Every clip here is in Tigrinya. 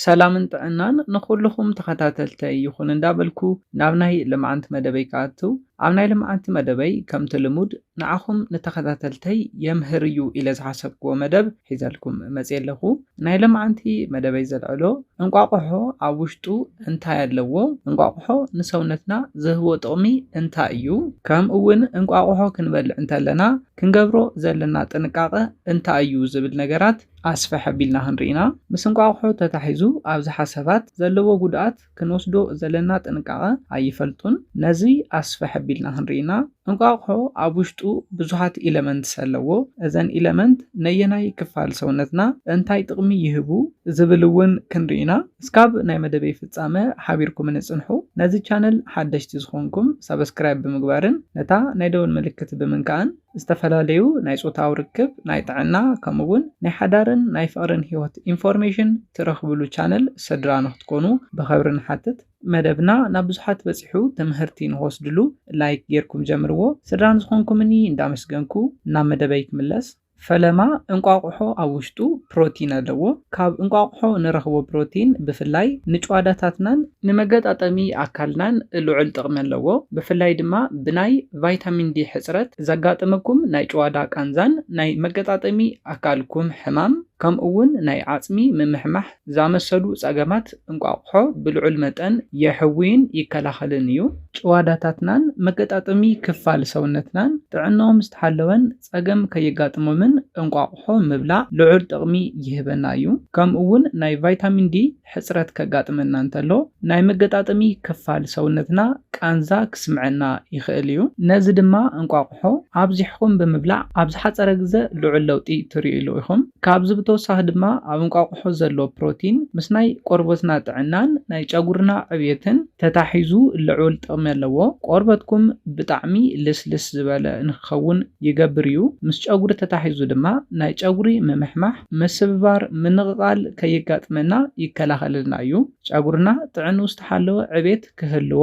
ሰላምን ጥዕናን ንኹሉኹም ተኸታተልተይ ይኹን እንዳበልኩ ናብ ናይ ልምዓንቲ መደበይ ክኣትው ኣብ ናይ ልምዓንቲ መደበይ ከምቲ ልሙድ ንዓኹም ንተኸታተልተይ የምህር እዩ ኢለ ዝሓሰብክዎ መደብ ሒዘልኩም መፅየ ኣለኹ ናይ ልምዓንቲ መደበይ ዘልዕሎ እንቋቑሖ ኣብ ውሽጡ እንታይ ኣለዎ እንቋቑሖ ንሰውነትና ዝህቦ ጥቕሚ እንታይ እዩ ከምኡ እውን እንቋቑሖ ክንበልዕ እንተለና ክንገብሮ ዘለና ጥንቃቐ እንታይ እዩ ዝብል ነገራት ኣስፍሕ ኣቢልና ክንርኢና ምስ እንቋቑሖ ተታሒዙ ኣብዝሓ ሰባት ዘለዎ ጉድኣት ክንወስዶ ዘለና ጥንቃቐ ኣይፈልጡን። ነዚ ኣስፍሕ ኣቢልና ክንርኢና እንቋቑሖ ኣብ ውሽጡ ብዙሓት ኢለመንትስ ኣለዎ። እዘን ኢለመንት ነየናይ ክፋል ሰውነትና እንታይ ጥቕሚ ይህቡ ዝብል እውን ክንርኢ ኢና። እስካብ ናይ መደበይ ፍጻመ ሓቢርኩምኒ ጽንሑ። ነዚ ቻነል ሓደሽቲ ዝኾንኩም ሳብስክራይብ ብምግባርን ነታ ናይ ደወል ምልክት ብምንካእን። ዝተፈላለዩ ናይ ጾታዊ ርክብ፣ ናይ ጥዕና፣ ከምኡ ውን ናይ ሓዳርን ናይ ፍቕርን ህይወት ኢንፎርሜሽን ትረኽብሉ ቻነል ስድራ ንክትኮኑ ብኸብሪ ንሓትት። መደብና ናብ ብዙሓት በጺሑ ትምህርቲ ንክወስድሉ ላይክ ጌርኩም ጀምርዎ። ስድራ ንዝኾንኩምኒ እንዳመስገንኩ ናብ መደበይ ክምለስ። ፈለማ እንቋቑሖ ኣብ ውሽጡ ፕሮቲን ኣለዎ። ካብ እንቋቑሖ ንረኽቦ ፕሮቲን ብፍላይ ንጭዋዳታትናን። ንመገጣጠሚ ኣካልናን ልዑል ጥቕሚ ኣለዎ። ብፍላይ ድማ ብናይ። ቫይታሚን ዲ ሕጽረት ዘጋጥመኩም ናይ ጭዋዳ ቃንዛን ናይ መገጣጠሚ ኣካልኩም ሕማም ከምኡ'ውን ናይ ዓጽሚ ምምሕማሕ ዝኣመሰሉ ጸገማት እንቋቑሖ ብልዑል መጠን የሕውይን ይከላኸልን እዩ። ጭዋዳታትናን መገጣጠሚ ክፋል ሰውነትናን ጥዕንኦም ዝተሓለወን ፀገም ከየጋጥሞምን እንቋቑሖ ምብላዕ ልዑል ጥቕሚ ይህበና እዩ። ከምኡ እውን ናይ ቫይታሚን ዲ ሕፅረት ከጋጥመና እንተሎ ናይ መገጣጠሚ ክፋል ሰውነትና ቃንዛ ክስምዐና ይኽእል እዩ። ነዚ ድማ እንቋቑሖ ኣብዚሕኹም ብምብላዕ ኣብ ዝሓፀረ ግዘ ልዑል ለውጢ ትሪኡሉ ኢኹም። ካብዚ ብተወሳኺ ድማ ኣብ እንቋቑሖ ዘሎ ፕሮቲን ምስ ናይ ቆርበትና ጥዕናን ናይ ጨጉርና ዕብየትን ተታሒዙ ልዑል ጥቕሚ ኣለዎ። ቆርበትኩም ብጣዕሚ ልስልስ ዝበለ ንክኸውን ይገብር እዩ። ምስ ጨጉሪ ተታሒዙ ድማ ናይ ጨጉሪ ምምሕማሕ፣ ምስብባር፣ ምንቕቓል ከየጋጥመና ይከላኸለልና እዩ። ጨጉርና ጥዕንኡ ዝተሓለወ ዕብየት ክህልዎ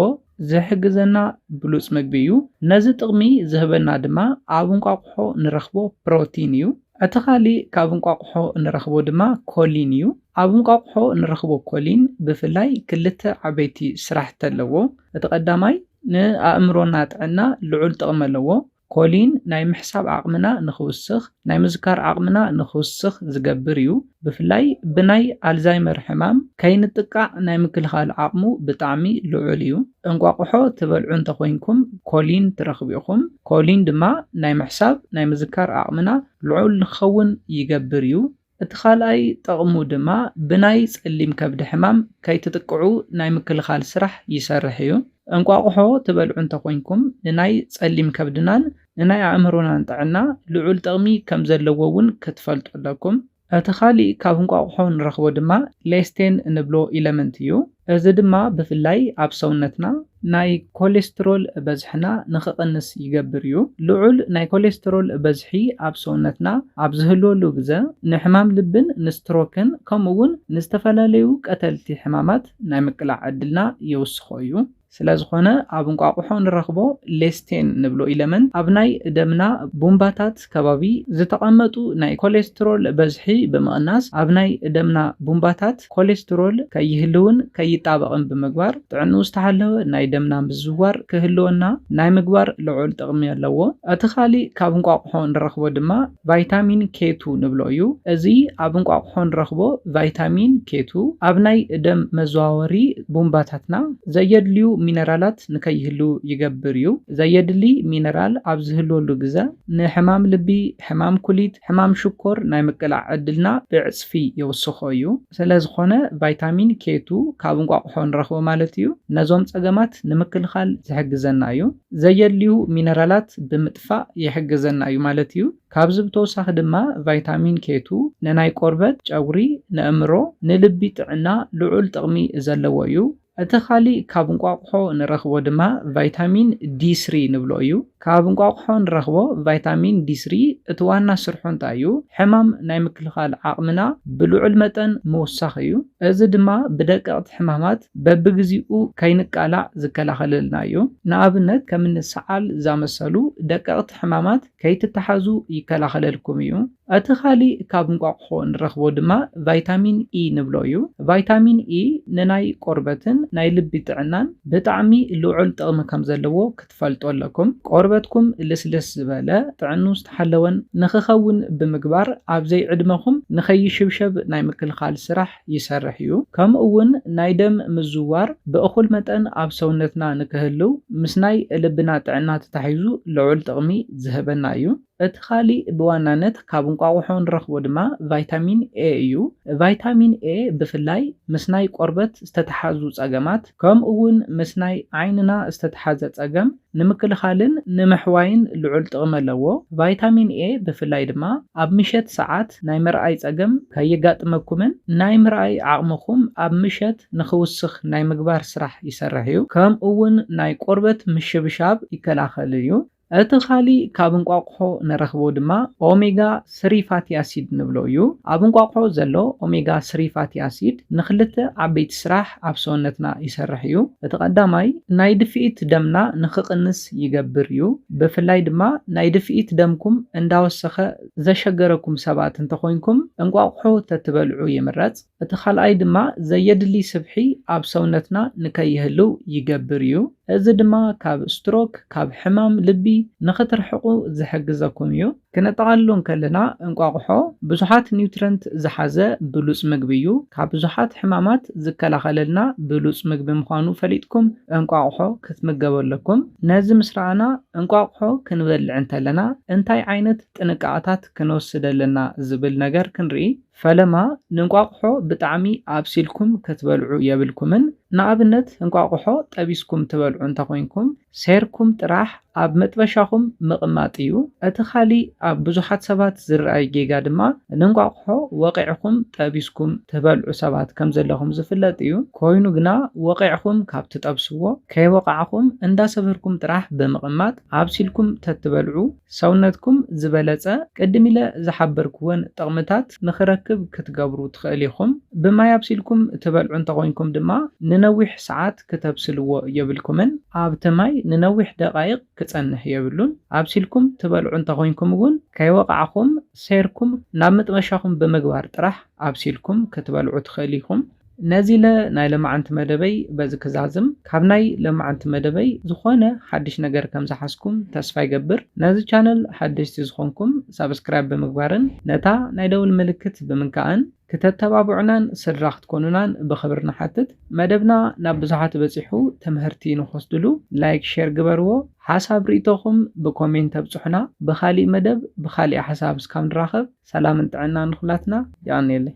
ዝሕግዘና ብሉጽ ምግቢ እዩ። ነዚ ጥቕሚ ዝህበና ድማ ኣብ እንቋቑሖ ንረኽቦ ፕሮቲን እዩ። እቲ ካልእ ካብ እንቋቑሖ ንረኽቦ ድማ ኮሊን እዩ። ኣብ እንቋቑሖ ንረኽቦ ኮሊን ብፍላይ ክልተ ዓበይቲ ስራሕቲ ኣለዎ። እቲ ቀዳማይ ንኣእምሮና ጥዕና ልዑል ጥቕሚ ኣለዎ። ኮሊን ናይ ምሕሳብ ዓቕምና ንኽውስኽ፣ ናይ ምዝካር ዓቕምና ንኽውስኽ ዝገብር እዩ። ብፍላይ ብናይ ኣልዛይመር ሕማም ከይንጥቃዕ ናይ ምክልኻል ዓቕሙ ብጣዕሚ ልዑል እዩ። እንቋቑሖ ትበልዑ እንተኾይንኩም ኮሊን ትረኽቡ ኢኹም። ኮሊን ድማ ናይ ምሕሳብ፣ ናይ ምዝካር ዓቕምና ልዑል ንክኸውን ይገብር እዩ። እቲ ካልኣይ ጠቕሙ ድማ ብናይ ጸሊም ከብዲ ሕማም ከይትጥቅዑ ናይ ምክልኻል ስራሕ ይሰርሕ እዩ። እንቋቑሖ ትበልዑ እንተኾይንኩም ንናይ ጸሊም ከብድናን ንናይ ኣእምሮናን ጥዕና ልዑል ጥቕሚ ከምዘለዎ እውን ክትፈልጡ ኣለኩም። እቲ ካሊእ ካብ እንቋቑሖ ንረኽቦ ድማ ሌስቴን እንብሎ ኢለመንት እዩ። እዚ ድማ ብፍላይ ኣብ ሰውነትና ናይ ኮሌስትሮል በዝሕና ንክቕንስ ይገብር እዩ። ልዑል ናይ ኮሌስትሮል በዝሒ ኣብ ሰውነትና ኣብ ዝህልወሉ ግዘ ንሕማም ልብን ንስትሮክን ከምኡ እውን ንዝተፈላለዩ ቀተልቲ ሕማማት ናይ ምቅላዕ ዕድልና የውስኾ እዩ። ስለዝኾነ ኣብ እንቋቑሖ ንረኽቦ ሌስቴን ንብሎ ኢለመንት ኣብ ናይ ደምና ቡምባታት ከባቢ ዝተቐመጡ ናይ ኮሌስትሮል በዝሒ ብምቕናስ ኣብ ናይ ደምና ቡምባታት ኮሌስትሮል ከይህልውን ከይጣበቕን ብምግባር ጥዕንኡ ዝተሓለወ ናይ ደምና ምዝዋር ክህልወና ናይ ምግባር ልዑል ጥቕሚ ኣለዎ። እቲ ካሊእ ካብ እንቋቑሖ ንረኽቦ ድማ ቫይታሚን ኬቱ ንብሎ እዩ። እዚ ኣብ እንቋቑሖ ንረኽቦ ቫይታሚን ኬቱ፣ ኣብ ናይ ደም መዘዋወሪ ቡምባታትና ዘየድልዩ ሚነራላት ንከይህልው ይገብር እዩ። ዘየድሊ ሚነራል ኣብ ዝህልወሉ ግዘ፣ ንሕማም ልቢ፣ ሕማም ኩሊት፣ ሕማም ሽኮር ናይ ምቅላዕ ዕድልና ብዕፅፊ የውስኾ እዩ። ስለዝኾነ ቫይታሚን ኬቱ ካብ እንቋቑሖ ንረኽቦ ማለት እዩ። ነዞም ፀገማት ንምክልኻል ዝሕግዘና እዩ። ዘየድልዩ ሚነራላት ብምጥፋእ ይሕግዘና እዩ ማለት እዩ። ካብዚ ብተወሳኺ ድማ ቫይታሚን ኬቱ ንናይ ቆርበት፣ ጨጉሪ፣ ንእምሮ፣ ንልቢ ጥዕና ልዑል ጥቕሚ ዘለዎ እዩ። እቲ ካሊእ ካብ እንቋቑሖ ንረኽቦ ድማ ቫይታሚን ዲ ስሪ ንብሎ እዩ። ካብ እንቋቑሖ ንረኽቦ ቫይታሚን ዲ ስሪ እቲ ዋና ስርሑ እንታይ እዩ? ሕማም ናይ ምክልኻል ዓቕምና ብልዑል መጠን ምውሳኽ እዩ። እዚ ድማ ብደቀቕቲ ሕማማት በብግዚኡ ከይንቃላዕ ዝከላኸለልና እዩ። ንኣብነት ከምኒ ሰዓል ዛመሰሉ ደቀቕቲ ሕማማት ከይትተሓዙ ይከላኸለልኩም እዩ። እቲ ኻሊእ ካብ እንቋቑሖ እንረኽቦ ድማ ቫይታሚን ኢ ንብሎ እዩ። ቫይታሚን ኢ ንናይ ቆርበትን ናይ ልቢ ጥዕናን ብጣዕሚ ልዑል ጥቕሚ ከም ዘለዎ ክትፈልጡ ኣለኩም። ቆርበትኩም ልስልስ ዝበለ፣ ጥዕንኡ ዝተሓለወን ንኽኸውን ብምግባር ኣብ ዘይዕድመኹም ንኸይሽብሸብ ናይ ምክልኻል ስራሕ ይሰርሕ እዩ። ከምኡ እውን ናይ ደም ምዝውዋር ብእኹል መጠን ኣብ ሰውነትና ንክህልው ምስ ናይ ልብና ጥዕና ተታሒዙ ልዑል ጥቕሚ ዝህበና እዩ። እቲ ኻሊእ ብዋናነት ካብ እንቋቑሖ እንረኽቦ ድማ ቫይታሚን ኤ እዩ። ቫይታሚን ኤ ብፍላይ ምስ ናይ ቆርበት ዝተተሓዙ ፀገማት ከምኡ እውን ምስ ናይ ዓይንና ዝተተሓዘ ፀገም ንምክልኻልን ንምሕዋይን ልዑል ጥቕሚ ኣለዎ። ቫይታሚን ኤ ብፍላይ ድማ ኣብ ምሸት ሰዓት ናይ ምርኣይ ፀገም ከየጋጥመኩምን ናይ ምርኣይ ዓቕምኹም ኣብ ምሸት ንኽውስኽ ናይ ምግባር ስራሕ ይሰርሕ እዩ። ከምኡ እውን ናይ ቆርበት ምሽብሻብ ይከላኸል እዩ። እቲ ኻሊእ ካብ እንቋቑሖ ንረኽቦ ድማ ኦሜጋ ስሪ ፋቲ ኣሲድ ንብሎ እዩ። ኣብ እንቋቑሖ ዘሎ ኦሜጋ ስሪ ፋቲ ኣሲድ ንኽልተ ዓበይቲ ስራሕ ኣብ ሰውነትና ይሰርሕ እዩ። እቲ ቀዳማይ ናይ ድፍኢት ደምና ንኽቕንስ ይገብር እዩ። ብፍላይ ድማ ናይ ድፍኢት ደምኩም እንዳወሰኸ ዘሸገረኩም ሰባት እንተኾይንኩም እንቋቑሖ ተትበልዑ ይምረፅ። እቲ ካልኣይ ድማ ዘየድሊ ስብሒ ኣብ ሰውነትና ንከይህልው ይገብር እዩ። እዚ ድማ ካብ ስትሮክ፣ ካብ ሕማም ልቢ፣ ንክትርሕቁ ዝሕግዘኩም እዩ። ክነጠቓልሎ እንከለና እንቋቑሖ ብዙሓት ኒውትረንት ዝሓዘ ብሉጽ ምግቢ እዩ። ካብ ብዙሓት ሕማማት ዝከላኸለልና ብሉጽ ምግቢ ምዃኑ ፈሊጥኩም እንቋቑሖ ክትምገቡ ኣለኩም። ነዚ ምስ ረኣና እንቋቑሖ ክንበልዕ እንተለና እንታይ ዓይነት ጥንቃቐታት ክንወስድ ኣለና ዝብል ነገር ክንርኢ። ፈለማ ንእንቋቑሖ ብጣዕሚ ኣብሲልኩም ክትበልዑ የብልኩምን፣ ንኣብነት እንቋቑሖ ጠቢስኩም ትበልዑ እንተኾይንኩም ሴርኩም ጥራሕ ኣብ መጥበሻኹም ምቕማጥ እዩ። እቲ ካሊእ ኣብ ብዙሓት ሰባት ዝርኣይ ጌጋ ድማ ንእንቋቑሖ ወቒዕኹም ጠቢስኩም ትበልዑ ሰባት ከምዘለኹም ዝፍለጥ እዩ። ኮይኑ ግና ወቒዕኹም ካብ ትጠብስዎ ከይወቓዕኹም እንዳሰበርኩም ጥራሕ ብምቕማጥ ኣብሲልኩም ተትበልዑ፣ ሰውነትኩም ዝበለጸ ቅድም ኢለ ዝሓበርክወን ጥቕምታት ንኽረክብ ክትገብሩ ትኽእል ኢኹም። ብማይ ኣብሲልኩም ትበልዑ እንተኾይንኩም ድማ ንነዊሕ ሰዓት ክተብስልዎ የብልኩምን። ኣብቲ ማይ ንነዊሕ ደቓይቕ ክጸንሕ የብሉን። ኣብሲልኩም ትበልዑ እንተኾይንኩም እውን ከይወቓዕኹም ሴርኩም ናብ መጥበሻኹም ብምግባር ጥራሕ ኣብሲልኩም ክትበልዑ ትኽእል ኢኹም። ነዚለ ናይ ለማዓንቲ መደበይ በዚ ክዛዝም ካብ ናይ ለማዓንቲ መደበይ ዝኮነ ሓድሽ ነገር ከም ዝሓዝኩም ተስፋ ይገብር ነዚ ቻነል ሓደሽቲ ዝኮንኩም ሳብስክራይብ ብምግባርን ነታ ናይ ደውል ምልክት ብምንካእን ክተተባቡዑናን ስድራ ክትኮኑናን ብክብሪ ንሓትት መደብና ናብ ብዙሓት በጺሑ ትምህርቲ ንክወስድሉ ላይክ ሸር ግበርዎ ሓሳብ ሪኢቶኩም ብኮሜንት ኣብጹሑና ብካሊእ መደብ ብካሊእ ሓሳብ እስካብ ንራከብ ሰላምን ጥዕናን ንኩላትና የቀንየለይ።